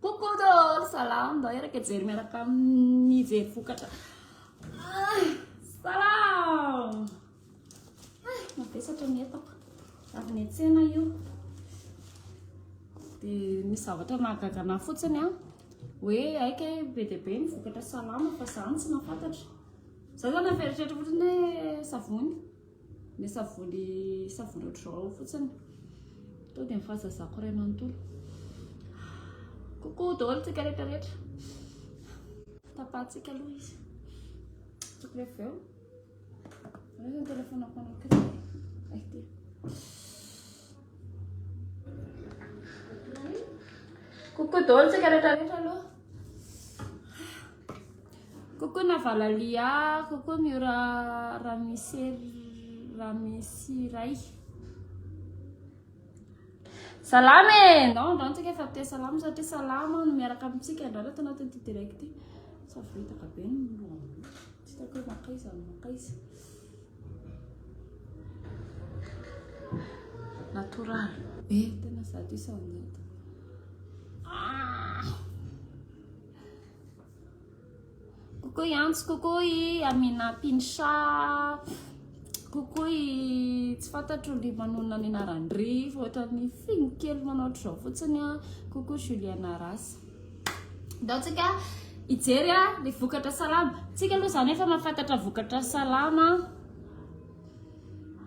Coucou daholo, salam ndao eraka hijery miaraka amin'ny hijery vokatra. Ay, salam! Ay, mavesatra ny entako. Avy ny tsena io. Dia misy zavatra mahagagana fotsiny an. Hoe aika be dia be ny vokatra salama fa zany tsy mahafantatra. Za zany efa eritreritra fotsiny hoe savony. Ny savony savony ohatr'izao fotsiny. Tonga dia ny fahazazako iray manontolo. Coucou daholo tsika rehetra rehetra. Tapahantsika aloha izy. Tokony avy eo. Io ny telefonako anankiray. Ay ty. Coucou daholo tsika rehetra rehetra aloha. Coucou Navalalia, coucou Miora Ramesiraihy. Salama e! Ndao ndao antsika efa te salama satria salama no miaraka amintsika ndao reto anaty ity direct ity. Sa vitaka be ny lohan'olona. Tsy hitako hoe makaiza no makaiza. Natoraly be tena zato isanjato. Ah! Coucou Yantsy, coucou i Amina Pinsha, coucou i tsy fantatro ny manonona ny anaran-dry fa ohatran'ny figno kely manao ohatr'izao fotsiny a, coucou Juliana Rasa. Ataontsika hijery a ny vokatra salama. Tsika aloha izany efa mahafantatra vokatra salama.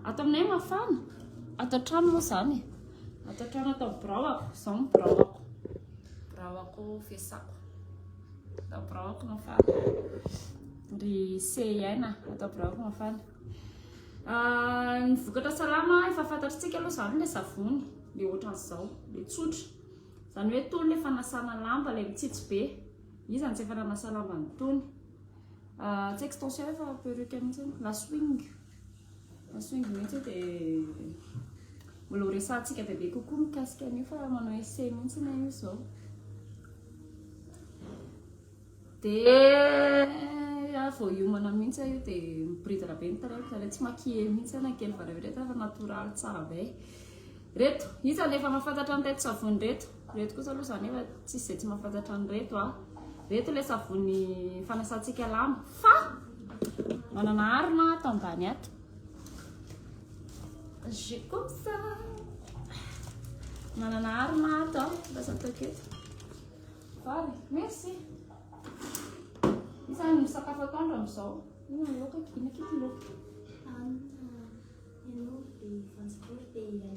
Ato aminay mafana, ato an-trano moa izany e. Ato an-trano ato amin'ny birao ako, izao ny birao ako. Biraoako fiasako. Atao biraoako mafana. Ry CIN, atao biraoako mafana. Ah, ny vokatra salama efa fantatritsika aloha izany ilay savony, ilay ohatran'izao, ilay tsotra. Izany hoe tony ilay fanasana lamba, ilay mitsitsy be. Iza no tsy efa nanasa lamba ny tony? Ah, tsy extension fa perruque mihitsy, la swing. Masoingo mihitsy io dia mbola ho resahantsika bebe kokoa mikasika an'io fa manao essai mihitsy na io izao. Dia vao hiomana mihitsy aho io dia miboridana be ny tarehiko, izany hoe tsy maquiller mihitsy aho na kely fa rehefa natoraly tsara be. Ireto, iza no efa mahafantatra ny reto savony ireto? Ireto kosa aloha izany efa tsisy izay tsy mahafantatra an'ireto a. Ireto ilay savony fanasantsika lamba fa manana arina ato ambany ato. Je comme ça. Manana arina ato a, lasa ataoko eto. Vary, merci. Iza no sakafo atoandro amin'izao? Ina ny loka, ina kiko loka. Anna, ianao dia transport dia ilay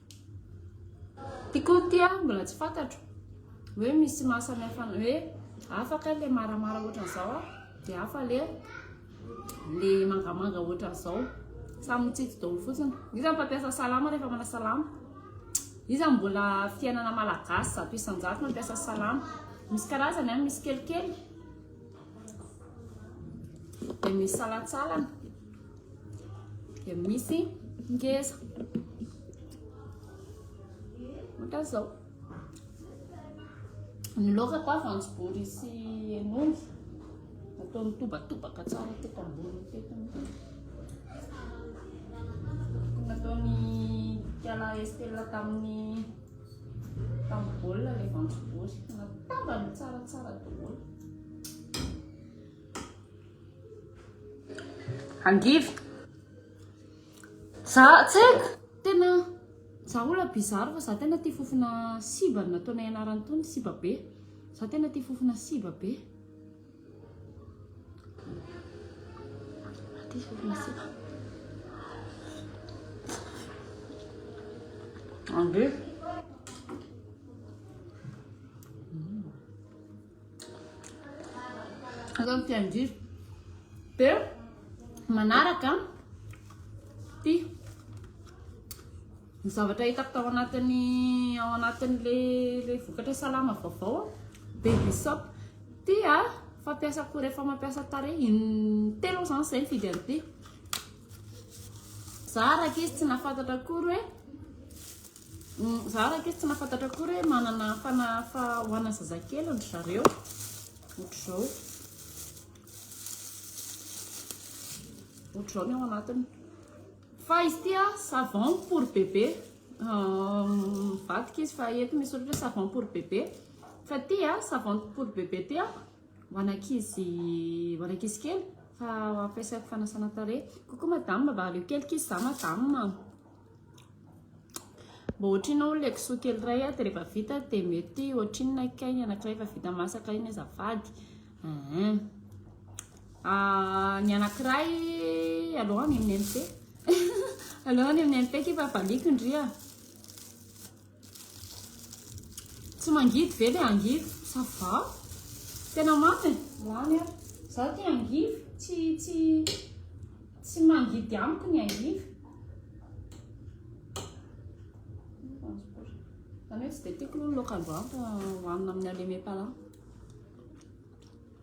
Ty koa ty an, mbola tsy fantatro hoe misy maha samy hafa an'ilay hoe hafa kay ilay maramara ohatran'izao an, dia hafa ilay ilay mangamanga ohatran'izao. Samy mitsitsy daholo fotsiny. Iza no mpampiasa salama rehefa manao salama? Iza no mbola fiainana malagasy zato isan-jato mampiasa salama? Misy karazany an, misy kelikely, dia misy salantsalany. dia misy ngeza ohatra zao ny loka koa vanjobory sy hen'omby atao mitobatobaka tsara teto ambony teto nataony kiala estela tamin'ny tamin'ny baolina ilay vanjobory natambany tsaratsara daholo Angivy. Za tsy haiko, tena za olona bizarre fa za tena tia fofona siba no nataonay anarany tony, siba be. Za tena tia fofona siba be. Angivy. Atao ny tian-driry. Dia manaraka ity ny zavatra hitako tao anatin'ny ao anatin'ilay vokatra salama vaovao baby soap ity a fampiasa koa rehefa mampiasa tarehy in telo izany izay nifidy an'ity za araka izy tsy nahafantatra akory hoe Za raikesy tsy nafantatra akory hoe manana fanahafa ho ana zazakely ndry zareo otrzao otrzao ny ao anatiny fa izy tia savon pour bébé mivadika izy fa eto misy soratra hoe savon pour bébé fa tia savon pour bébé tia ho anankizy ho anankizy kely fa ampiasaiko fanasana tarehy coucou madame mba aleo kelik'izy za madame Mba ohatrinona hono ilay kisoa kely iray dia rehefa vita dia mety ohatrinona kay ny anankiray efa vita masaka iny azafady eeh, ny anankiray aleo any amin'ny MT aleo any amin'ny MT ity fa valiako ndry a. Tsy mangidy ve le angivy? Ça va. Tena mamy e. Lany ary. Zaho tia angivy. Tsy, tsy, tsy mangidy amiko ny angivy. Zany hoe tsy dia tiako aloha ny laoka aloha hohanina amin'ny aleme pala.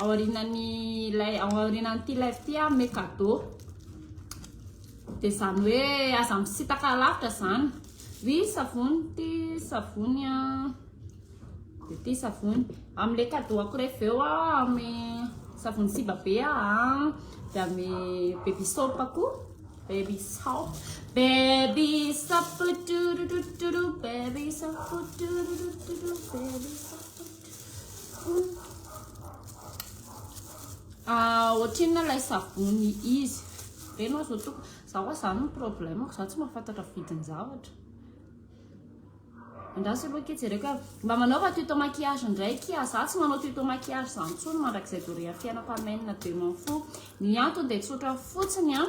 Aorianan'ilay, ao aorianan'ity live ity aho hanome cadeau. Dia izany hoe aza misitaka alavitra izany. Oui, savony ity savony an. Ity savony. Amin'ilay cadeau ako rehefa avy eo aho hanome savony siba be an. Dia hanome baby soap koa. Baby soap. Baby soap. Tururuturu. Baby soap. Tururuturu. Baby soap. Ohatrinona ilay savony izy be ianao zao tompoko za oa zany no problème ko za tsy mahafantatra vidiny zavatra andraso aloha akia jereko hoe mba manaova tuto maquillage ndray akia za tsy manao tuto maquillage zany tsony mandrakizay doria fiainako amen de m'en fou ny antony de tsotra fotsiny an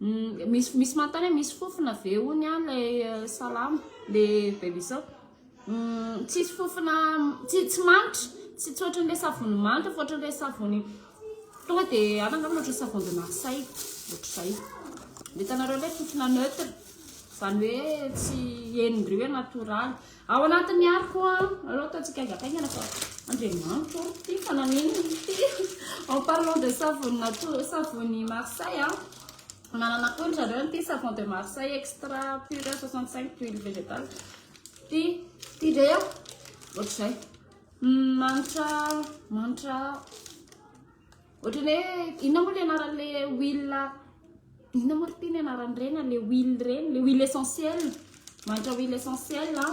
Uhm misy misy manontany hoe misy fofona ve hono an le salama le bebisao? Uhm tsisy fofona tsy tsy manitra tsy tsy ohatran'ny le savony manitra fa ohatran'ny le savony tonga de any angamba ohatran'ny savon de Marseille ohatrizay. Ny hitanareo le fofona neutre zany hoe tsy henondry hoe natoraly. Ao anatin'ny ariko an, aleo atao tsikaingataingana fa Andriamanitro ô, ty fa naninona ty? En parlant de savony nature, savony Marseille an, manana koa ry zareo an'ity savon de Marseille extra pure 65 d'huile végétale, ty ty ve an, ohatr'izay, manitra, manitra. Ohatran'ny hoe inona moa le anaran'le huile inona moa ry ty ny anaran'ireny a, le huile ireny, le huile essentiel, mahantra huile essentiel a,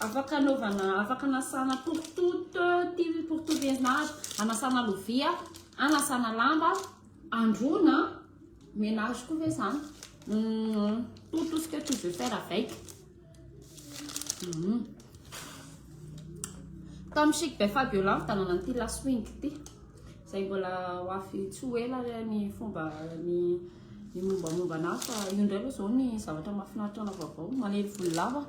afaka anaovana, afaka anasana porotoroto, ty porotoroto entina anasana lovia, anasana lamba, androana, menage koa ve zany, atosika eau de javel avec. Tao amin'ny Chic by Fabiola mitanana an'ity La Swing ity. Izay mbola ho avy tsy ho ela ny fomba ny ny mombamomba anazy fa io indray aloha izao ny zavatra mahafinaritra anao vaovao. Manery volo lava.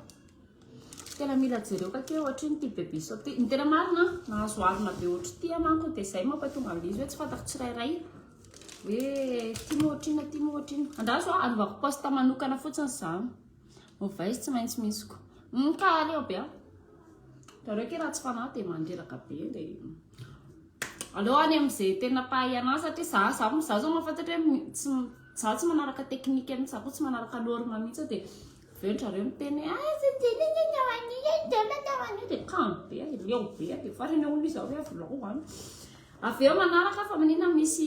Tena mila jereo kake ohatry ny ity bebe sao ity. Ny tena marina nahazo arina be ohatry ity manko dia izay mampatonga an'izy hoe tsy fantako tsirairay hoe ity moa ohatry inona ity moa ohatry inona. Andraso aho anaovako poste manokana fotsiny izany. Ovay tsy maintsy misy ko. Hum ka aleo be a. Ianareo ke raha tsy fanahy dia mandreraka be le. Aleo any amin'izay tena mpahay anazy satria za za mo za zao mahafantatra hoe tsy za tsy manaraka technique mihitsy za ko tsy manaraka norme mihitsy dia avy eo ndry zareo miteny hoe ah tsy tianay ny atao an'io e tsy tianay ny atao an'io dia kamo be a dia leo be a dia farany hono izy avy eo avolao any avy eo manaraka fa maninona misy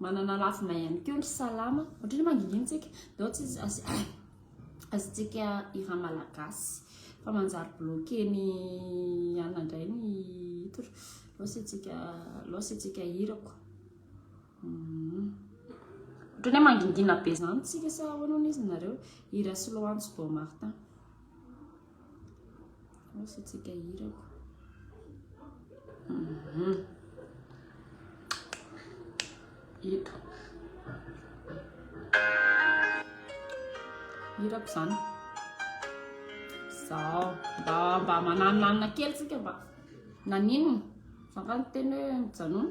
Manana lafiny ihany koa ny salama. Ohatrany manginginintsika, dao tsy azontsika hira malagasy. Fa manjary bloqué ny anona indray ny hira. Loss antsika, loss antsika hira ko. Hmm. Ohatrany mangingina be izany tsika sa ahoana hono izy nareo? Hira slow antsy Bon Martin. Rosotsika hirako. Mhm. Ito. Hirako izany. Zao. Mba mba mananonanona kely tsika mba. Nanino? Zaka ny teny hoe mijanona.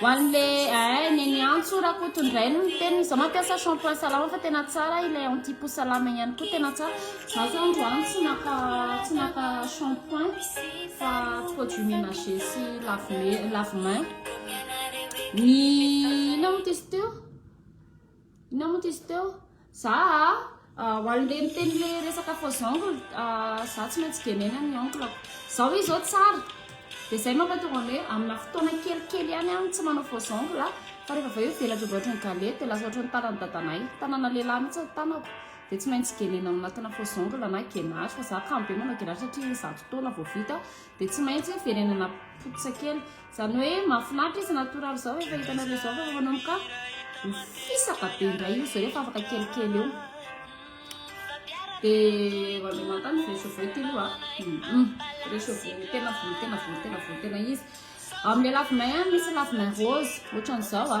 Ho an'ny le eeh neny Antso Rakoto indray no niteny izaho mampiasa shampoing salama fa tena tsara ilay anti peau salama iny ihany koa tena tsara izaho zao androany tsy naka tsy naka shampoing fa produit ménager sy lave lave main ny inona moa ty izy teo inona moa ty izy teo Za a, ho an'le miteny le resaka faux ongle a, za tsy maintsy gaineina ny ongle-ko. Zao izy zao tsara, de zay mampatonga ny hoe amina fotoana kelikely ihany aho no tsy manao faux ongle a, fa rehefa avy eo io velatra ohatry ny galety, de lasa ohatry ny tanan'i dadanay, tanana lehilahy mihitsy ny tanako, de tsy maintsy gaineina ao anatina faux ongle na genary, fa za kamo be manao genary satria zato taona vao vita, Dia tsy maintsy verenana potika kely. Izany hoe mahafinaritra izy natoraly izao rehefa hitanareo izao fa rehefa namokafa mifisaka be indray izy rehefa afaka kelikely eo. Dia hoazy mantany resoveo ity loha. Resoveo tena volo tena volo tena volo tena izy. Amin'ny lafimay misy lafimay rose ohatran'izao a.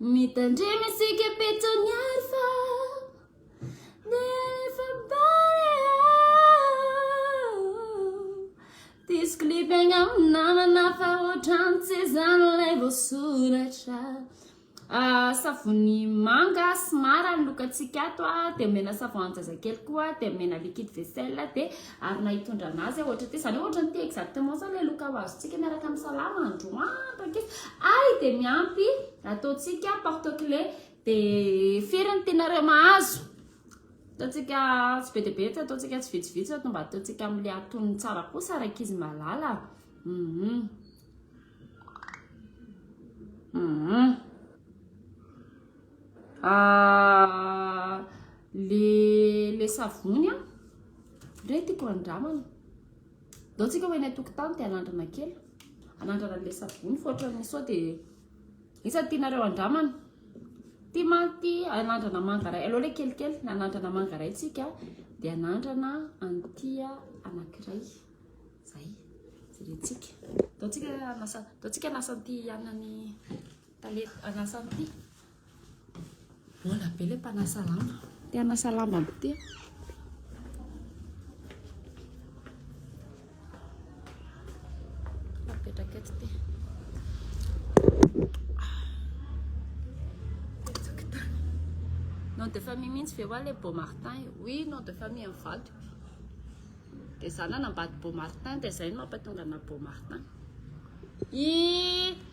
Mitandrema isika petoniary fa nefa bare Diso klipy agnaminy namana fa ohatrany tsy izany ilay voasoratra Savony manga sy mara ny lokantsika ato a Dia omena savon an-jazakely koa Dia omena liquide vaisselle Dia ary na hitondrana azy ohatra ity izany ohatra ity exactement izany ilay loka ho azontsika miaraka amin'ny salama androandro ankeo ay dia miampy ataontsika porte clé dia firy ny tianareo mahazo ataontsika tsy be dia be tsy ataontsika tsy vitsivitsy ato mba ataontsika amin'ilay atonony tsara kosa araka izy malala mhm mhm le le savony an, re tiako andramana, ndao tsika ho eny an-tokotany dia anandrana kely, anandrana an'le savony fa ohatran'ny sao dia, iza no tianareo andramana? ty mantsy anandrana manga iray, aleo le kelikely, anandrana manga iray tsika dia anandrana an'ity anankiray, zay, jeretsika, ndao tsika hanasa, ndao tsika hanasa an'ity anan'i. Tale hanasa ampy ty. Mbola be le mpanasa lamba. Te hanasa lamba ampy ty. Nom de famille mintsy ve wa le Beau Martin io? Oui, nom de famille an'i vadiko. Dia izaho nanambady Beau Martin dia izay no mampatonga anà Beau Martin. I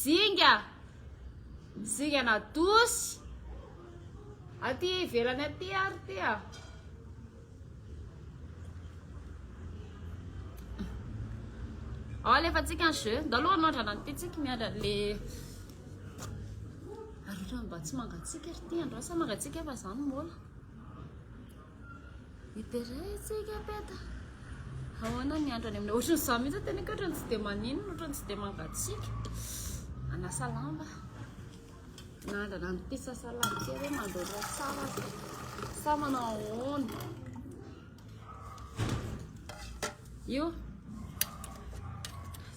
Zinga, zingan'Adosy, aty ivelany aty ary ty a. Ao alefantsika ny jeu, ndao aloha anoandrana an'ity tsika miandra le Arotra mba tsy mangatsiaka ry ty androany sa mangatsiaka fa za no mola. Hiderentsika peta. Ahoana ny andro any aminay? Ohatrany izaho mihitsy tena ka ohatrany tsy dia maninona, ohatrany tsy dia mangatsiaka. Anasa lamba. Nandrana ny pisa salady kely hoe mandoro tsara. Sa manao ahoana? Io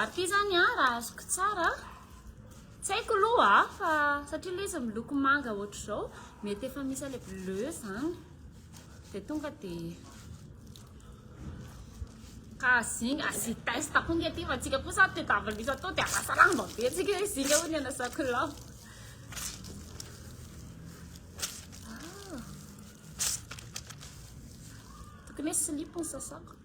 Ary ty zany a raha azoko tsara tsy haiko aloha a fa satria le izy miloko manga ohatr'izao mety efa misy ale bleu zany de tonga de ka zinga asy test koa nge ty fa tsika koa sady te tavalisa atao de arasa lamba be tsika hoe zinga hoy ny anasako lamba ah. tokony hoe slip ny sasako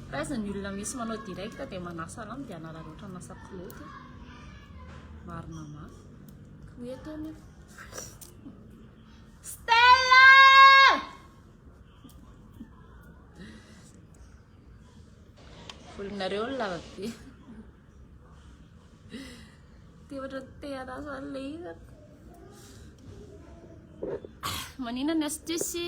Aiza ny olona misy manao direct dia manasa lamba dia hanararaotra an'asa pilote e. Marina mafy. Ko eto anie. Stella! Volonareo ny lava be. Te ohatra te hanasa an'ilay izy. Manina ny astuce?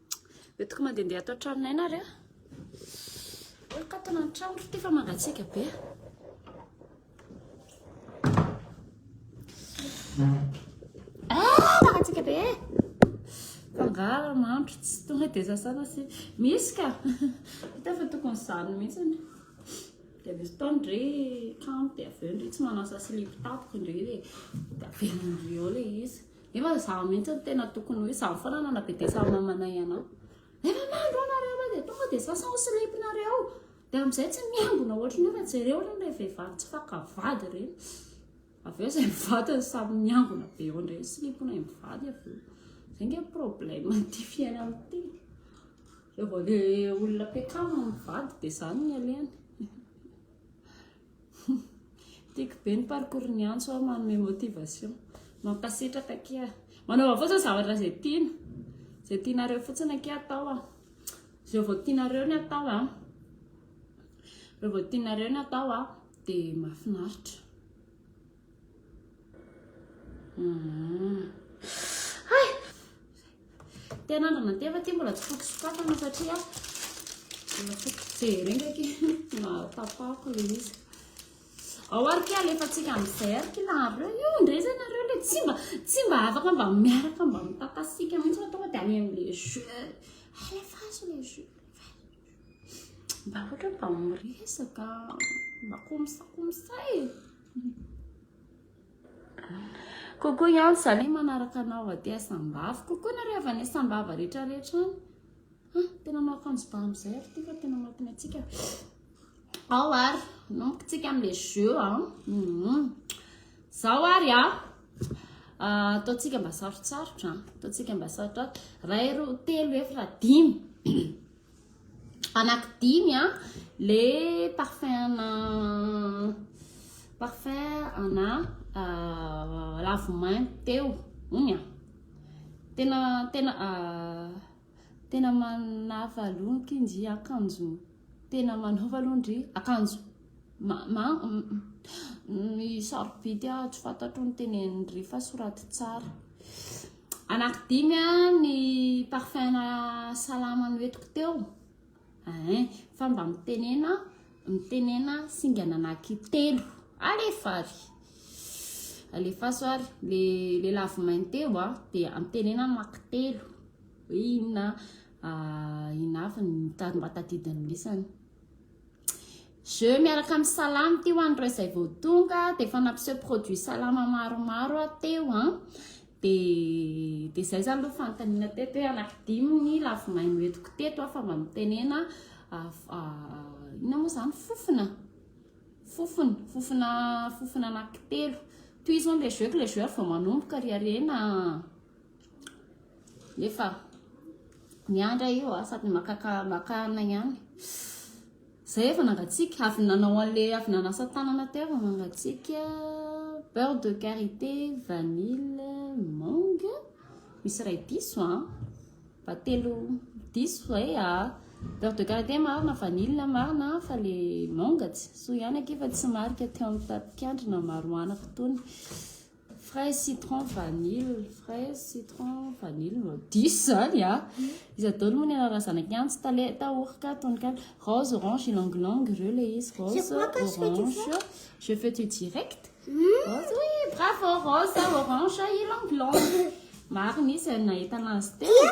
Dia tokony mandehandeha ato an-tranonay na re. Eo katona ny trano ity fa mangatsiaka be. Ah, mangatsiaka be. Fangara mandro tsy tonga dia sasana sy misy ka. Hita fa tokony izany mihitsy ny. Dia misy fotoana ndry kanto dia avy eo ndry tsy manasa silipo tapoko ndry dia avela ndry eo ilay izy. Nefa izaho mihitsy no tena tokony hoe izaho foana nanabedesa mamanay anao. Nefa mandro anareo raha dia tonga dia sasa ao slipnareo. Dia amin'izay tsy miangona ohatry ny hoe fa jereo ireny ilay vehivavy tsy faka vady ireny. Avy eo izay mivady no samy miangona be eo indray ny slipnay mivady avy eo. Izay nge problème an'ity fiainana ity. Rehefa ilay olona mpiakavy no mivady dia izany ny alehany. Tiako be ny parcours ny antso a, manome motivation. Mankasitraka akia a. Manaova fotsiny zavatra izay tiana. Izay tianareo fotsiny akia atao a. Izay vao tianareo ny atao a. Izay vao tianareo ny atao a, dia mahafinaritra. Tena andro nandeha fa ty mbola tsy foky sokafana satria mbola foky jery ndraiky mahatapako le izy ao ary ke alefantsika amin'izay ary ty nareo io ndray zay nareo le tsy mba tsy mba afaka mba miaraka mba mitakasika mihitsy fa tonga de any amle jeu alefaso le jeu mba ohatra mba miresaka mba komisakomisa e Coucou Yann, za le manaraka anao aty à Sambava. Coucou nareo avy any Sambava rehetra rehetra any. Ah, tena manao akanjo ba amizay ary ty fa tena mampina antsika. Ao ary, nomboka tsika amle jeu a. Mhm. Zao ary a. Ah, ataontsika mba sarotsarotra, ataontsika mba sarotsarotra. Ray roa telo efatra dimy. Anaky dimy a, le parfum ana parfum ana ravimaintso teo, ony a. Tena tena tena manafalo ky ndry akanjo tena manaova aloha ndry akanjo sarobidy aho tsy fantatro ny tenenindry fa soraty tsara. Anankidimy ny parfum na salama noentiko teo eh, fa mba mitenena mitenena singa nanaky telo alefa ary alefaso ary le le lavo mainteo a dia amitenena maky telo hoe inona ah, inona avy ny mba tadidin'ny lesany Je miaraka amin'ny salama ity ho an'ireo izay vao tonga dia efa nampiseho produit salama maromaro aho teo an dia dia izay izany aloha fanontaniana teto hoe anankidimy ny lavomay noentiko teto aho fa mba mitenena inona moa izany fofona fofona fofona fofona anankitelo tohizo an'ilay jeu que le joueur vao manomboka ry harena Nefa miandry ahy io a, sady makaka makana ihany. Zay efa nangatsiaka, avy nanao an'le avy nanasa tanana teo efa mangatsiaka. Beurre de karité, vanille, mangue. Misy iray diso a. Mba telo diso zay a. Beurre de karité marina, vanille marina fa le mangue tsy soa ihany akia fa tsy marika teo amin'ny tatikandrina maro anako tony. Fraise citron vanille fraise citron vanille no diso zany a iza daholo moa ny anarana zanaky antsy taleta orca tononkalo rose orange ylang ylang ireo le izy rose orange je fais tu direct rose oui bravo rose orange ylang ylang maro misy zay nahitana azy teo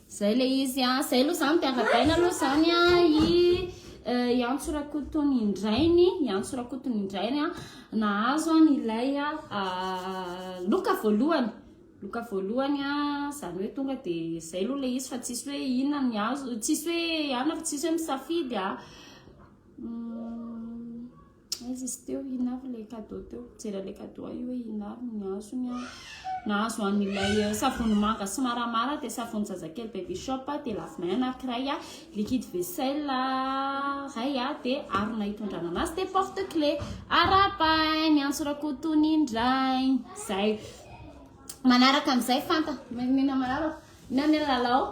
Zay le izy a, zay aloha zany de aragaina aloha zany a i i Antso Rakotony indrainy, i Antso Rakotony indrainy a nahazo an ilay loka voalohany, loka voalohany a, zany hoe tonga de zay aloha le izy fa tsisy hoe inona ny azo, tsisy hoe anona fa tsisy hoe misafidy a. Aiza izy teo? Inona avy ilay cadeau teo? Mijery an'ilay cadeau aho io hoe inona avy ny azony aho. Nahazo an'ilay eh, savony manga sy maramara dia savony zazakely baby shop dia lave-main anankiray, liquide vaisselle iray dia harona hitondrana anazy dia porte clé. Arahabahay miantso Rakoton indray. Izay. Manaraka amin'izay fanta. Menina manaraka. Inona ny lalao?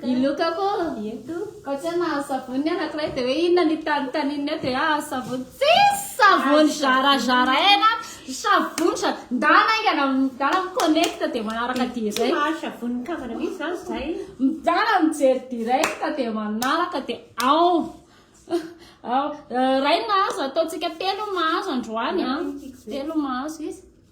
Iloka ko. Ento. Koa tsy na savony anankiray dia hoe inona ny tanitanin'ny eo dia ah savony. Tsisy savony zarazaraina. Savony sa ndana aingana ndana connect dia manaraka direct. Tsy mahazo savony kavana mihitsy zany zay. Ndana mijery direct dia manaraka dia ao. Ao. Ray mahazo ataontsika telo mahazo androany ah. Telo mahazo izy.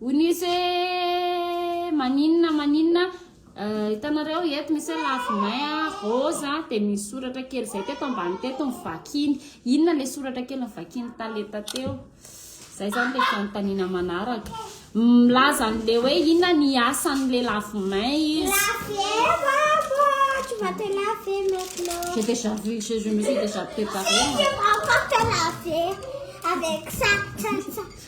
Unise maninona maninona hitanareo eh, eto misy hoe lave main a, rose a, dia misy soratra kely izay teto ambany teto ny vakiny. Inona ilay soratra kely ny vakiny talenta teo? Izay izany ilay fanontaniana manaraka. Milaza an'ilay hoe inona ny asan'ilay lave main izy. tu vas te laver maintenant. J'ai déjà vu, je, je me suis déjà préparée. Encore te laver avec ça, ça, ça.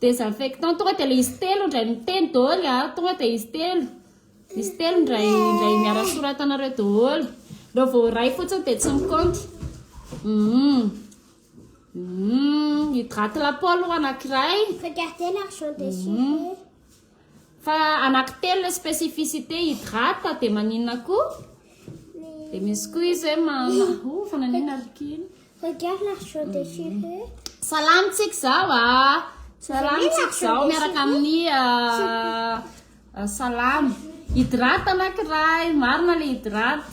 Désinfectant tonga dia ilay izy telo indray miteny daholo a, tonga dia izy telo, izy telo indray indray miara soratanareo daholo. Ireo vao iray fotsiny dia tsy mikaonty. Hum. Hum, hydrate la peau aloha anankiray. Regardez l'argent des sourires. Fa anaky telo le spécificité hydrate de maninona ko? De misy ko izy hoe mana oh fa naninona ry kin? Regarde la chaux de cheveux. Salama tsik zao ah. Salama tsik zao miaraka amin'ny ah, ah, salama. Hydrate anakiray, marina le hydrate.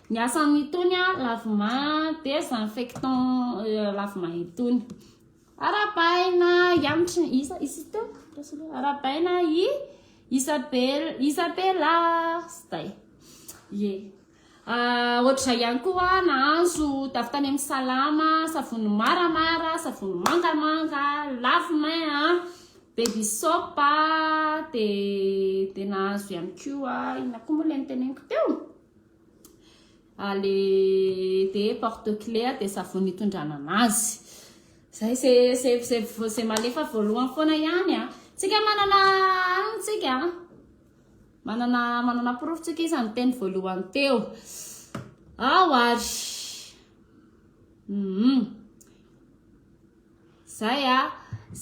Ny asan itony a lavima desinfectant lavima itony. Arabaina yamtry isa isa teo. Arabaina i Isabella Isabella stay. Ye. Ah, ohatr'izay ihany koa nahazo tavy tany amin'ny salama, savony maramara, savony mangamanga, lavimay a, baby soap a, de de nahazo ihany koa inona koa moa ilay noteneniko teo? le de porte clé de savony itondrana anazy zay ze ze ze ze malefa voalohany foana ihany a tsika manana aniny tsika manana manana porofo tsika izy ny teny voalohany teo ao ary mm zay a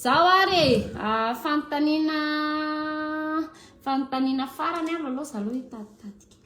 zao ary e fanontaniana fanontaniana farany ary aloha za aloha hitatitatika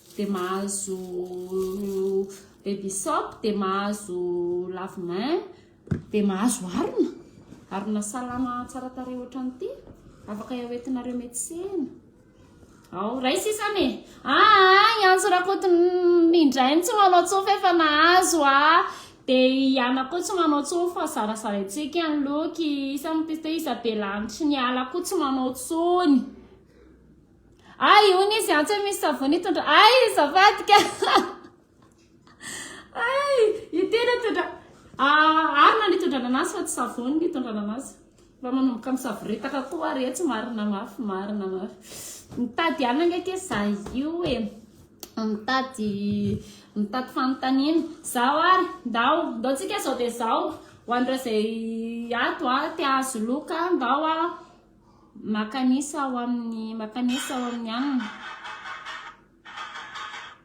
dia mahazo baby soap, dia mahazo lave main, dia mahazo harona, harona salama tsara tarehy ohatran'ity, afaka hoentinareo metsena. Ao, ray sisa me. Ah, i Antso Rakoto indray tsy manao tsofa efa nahazo ah. Dia i Ana koa tsy manao tsofa, zarazaraintsika ny loky, isa ny piste, isa be lanitry ny ala koa tsy manao tsony. Ay hono izy antsy misy savony tondra ay zavadika ay io tena tondra ah, arina ny tondra ananasy fa tsy savony ny tondra ananasy mba manomboka misaboretaka koa ary etsy marina mafy marina mafy mitady anagna ke za io e mitady mitady fanontaniana zaho ary ndao ndao tsika zao de zao ho an'ireo zay ato a te ahazo loka ndao a Makanesa ao amin'ny makanesa ao amin'ny aminy.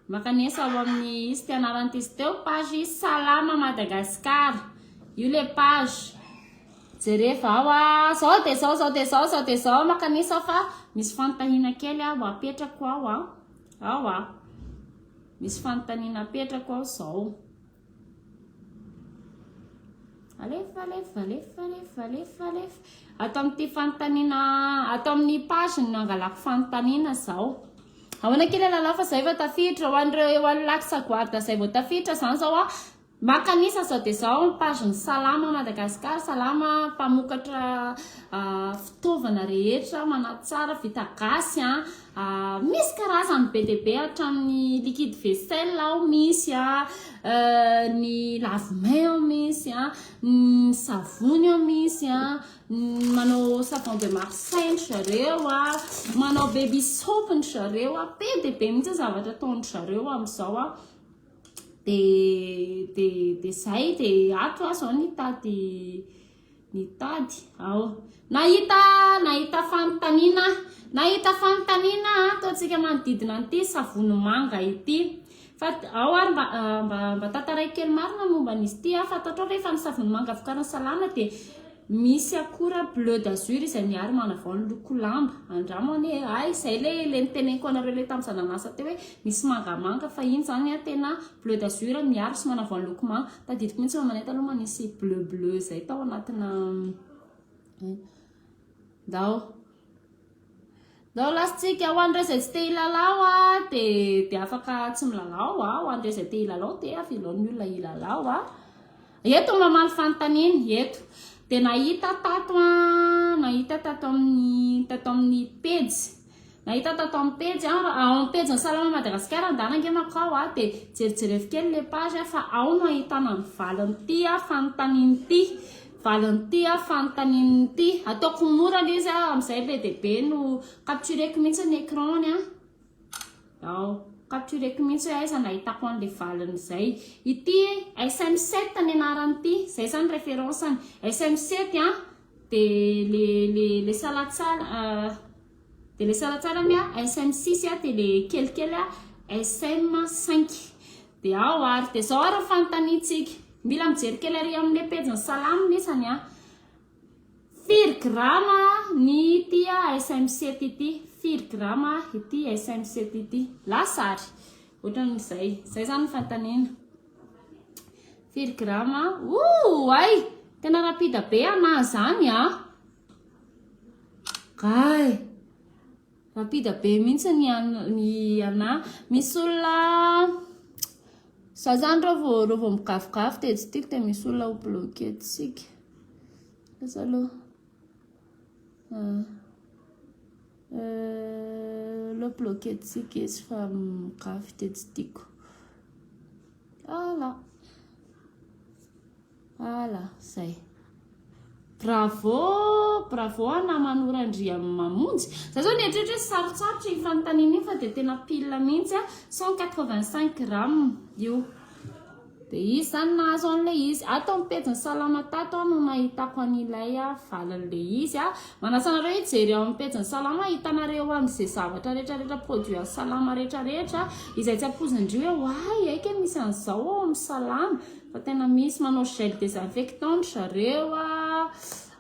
Makanesa ao amin'ny izy fianarana izy teo page izy salama Madagascar. Io le page. Jereva ao a zao de zao zao de zao zao de zao makanesa fa misy fanontaniana kely aho apetrako ao a. Ao a. Misy fanontaniana apetrako ao zao. Alefa, alefa, alefa, alefa, alefa, alefa. Ato amin'ity fanontaniana, ato amin'ny page no nangalako fanontaniana zao. Ahoana kely lalao fa zay efa tafiditra ho an'ireo eo an'lac sagoarda zay vao tafiditra zany zao a. Maka an'isa sao dia zao ny page ny Salama Madagascar, Salama mpamokatra ah, fitaovana rehetra manatsara vita gasy a. Misy karazany be dia be hatramin'ny liquide vaisselle ao misy a, ny lave main ao misy a, ny savony ao misy a, manao savon de Marseille ndry zareo a, manao baby soap ndry zareo a, be dia be mihitsy zavatra ataondry zareo amin'izao a, dia dia dia zay dia ato aho zao nitady. Nitady aho. Nahita, nahita fanontaniana aho. Nahita fanontaniana aho ato antsika manodidina an'ity savony manga ity. Fa ao ary mba, ah, mba, mba tantaraiko kely marina momba an'izy ity aho. Fantatrao ve fa ny savony manga vokarin'i Salana dia misy akora bleu d'azur izay miaro manavao ny loko lamba. Andramo anie e. Hay, izay le, le niteneniko anareo le tamin'izaho nanasa teo hoe misy mangamanga fa iny izany an, tena bleu d'azur miaro sy manavao ny loko manga. Tadidiko mihitsy fa manety aloha manisy bleu bleu izay tao anatina ndao ndao lasitsika ho an'ireo izay tsy te hilalao a dia dia afaka tsy milalao a ho an'ireo izay te hilalao dia avelao ny olona hilalao a eto mamaly fanontaniana eto dia nahita tato a nahita tato amin'ny tato amin'ny pejy Nahita tato amin'ny pejy a, ao amin'ny pejin'ny Salama Madagasikara ndana ange manko aho a, dia jerijereo kely ilay page a, fa ao no ahitana ny valin'ity a, fanontaniana ity, valin'ity a, fanontaniana ity, ataoko mora ilay izy a, amin'izay be dia be no captureko mihitsy ny écran-ny a, ao, captureko mihitsy hoe aiza no ahitako an'ilay valin'izay, ity SM7 ny anaran'ity, izay izany référence-ny, SM7 a, De le le le salatsala ah, de le salatsala ny ah, SM six ah, de le kelikely ah, SM cinq, de ao ary de zao ary ny fanontaniantsika, mila mijery kely ary amle pejin'ny salamo nesany ah, firy grama ny ity ah, SM sept ity, firy grama ity, SM sept ity, lasa ary, otran'izay, zay zany ny fanontaniana. Firy grama? Ooay! Tena rapide be anah zany a! Gay! Rapide be mihitsy ny anah. Misy olona za zany reo vao reo vao migavigavy dia tsy tiako dia misy olona ho bloquer-tsika. Asa aloha. Ah. Euh, le bloquer-tsika izy fa migavy dia tsy tiako. Ala. Ala, zay. Bravo, bravo à namanora Andriamamonjy. Za zao nieritreritra hoe sarotsarotra io fanontaniana io fa dia tena pile mihitsy a, 185 grammes io. Dia izy izany nahazo an'ilay izy. Ato amin'ny pejin'ny salama tato aho no nahitako an'ilay valin'ilay izy a. Manasa anareo hijery ao amin'ny pejin'ny Salamo hahitanareo any izay zavatra rehetra rehetra produit an'ny Salamo rehetra rehetra izay tsy ampoizin-dry hoe oay hay kay misy an'izao ao amin'ny Salamo fa tena misy manao gel désinfectant ry zareo ah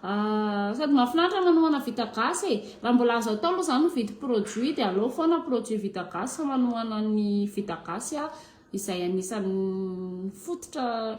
sady mahafinaritra manohana vita gasy e raha mbola azo atao aloha izany mividy produit dia aleo foana produit vita gasy fa manohana ny vita gasy ah izay anisan'ny fototra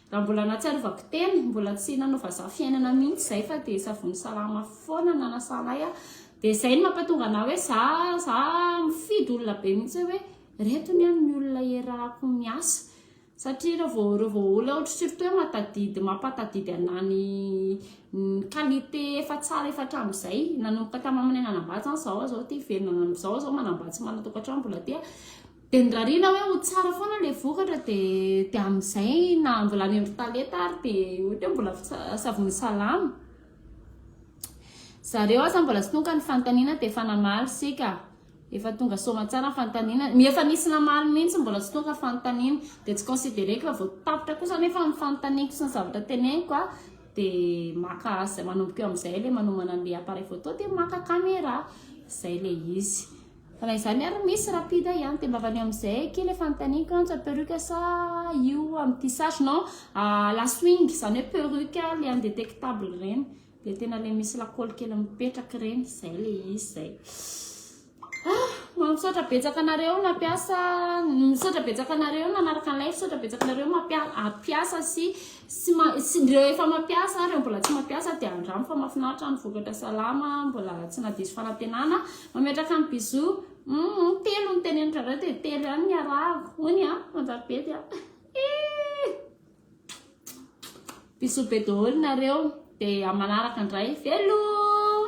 Raha mbola nahatsiarovako tena, mbola tsy nanao vazaha fiainana mihitsy izay fa dia savony salama foana no nanasana ahy dia izay no mampatonga anah hoe za za mifidy olona be mihitsy aho hoe ireto anie ny olona iarahako miasa satria raha vao raha vao olona ohatra surtout hoe mahatadidy mampatadidy anah ny ny qualité efa tsara efa hatramin'izay nanomboka tamin'ny maha manana anam-bady izany izaho aza ity velona amin'izao aho izao manam-bady sy manana tokantrano mbola aty a Dia nirariana hoe ho tsara foana ilay vokatra dia dia amin'izay na mbola any amin'ny talenta ary dia ohatra hoe mbola savony salama. Zareo aza mbola tsy tonga ny fanontaniana dia efa namaly sika. Efa tonga soamantsara ny fanontaniana. Ny efa nisy namaly mihitsy mbola tsy tonga fanontaniana dia tsy considereko fa vao tapitra kosa nefa ny fanontaniako sy ny zavatra teneniko a dia maka manomboka eo amin'izay ilay manomana an'ilay appareil photo dia maka caméra. Izay ilay izy. Raha izany ary misy rapide ihany dia mba vanio amin'izay kely fanontaniako antsa perruque sa io amin'ny tissage non ah, la swing izany hoe perruque le indétectable ireny le tena le misy lakôly kely mipetraka ireny izay le izy izay ah mba misaotra betsaka anareo nampiasa misaotra betsaka anareo nanaraka an'ilay misaotra betsaka anareo mampiasa sy Tsy ma tsy ireo efa mampiasa ary ireo mbola tsy mampiasa dia andramo fa mahafinaritra ny vokatra salama mbola tsy nadiso fanantenana mametraka ny bisous hum telo ny teneniko anareo dia telo ihany ny arahako hoy ny an manjarbety an bisous be daholo nareo dia amanaraka indray veloma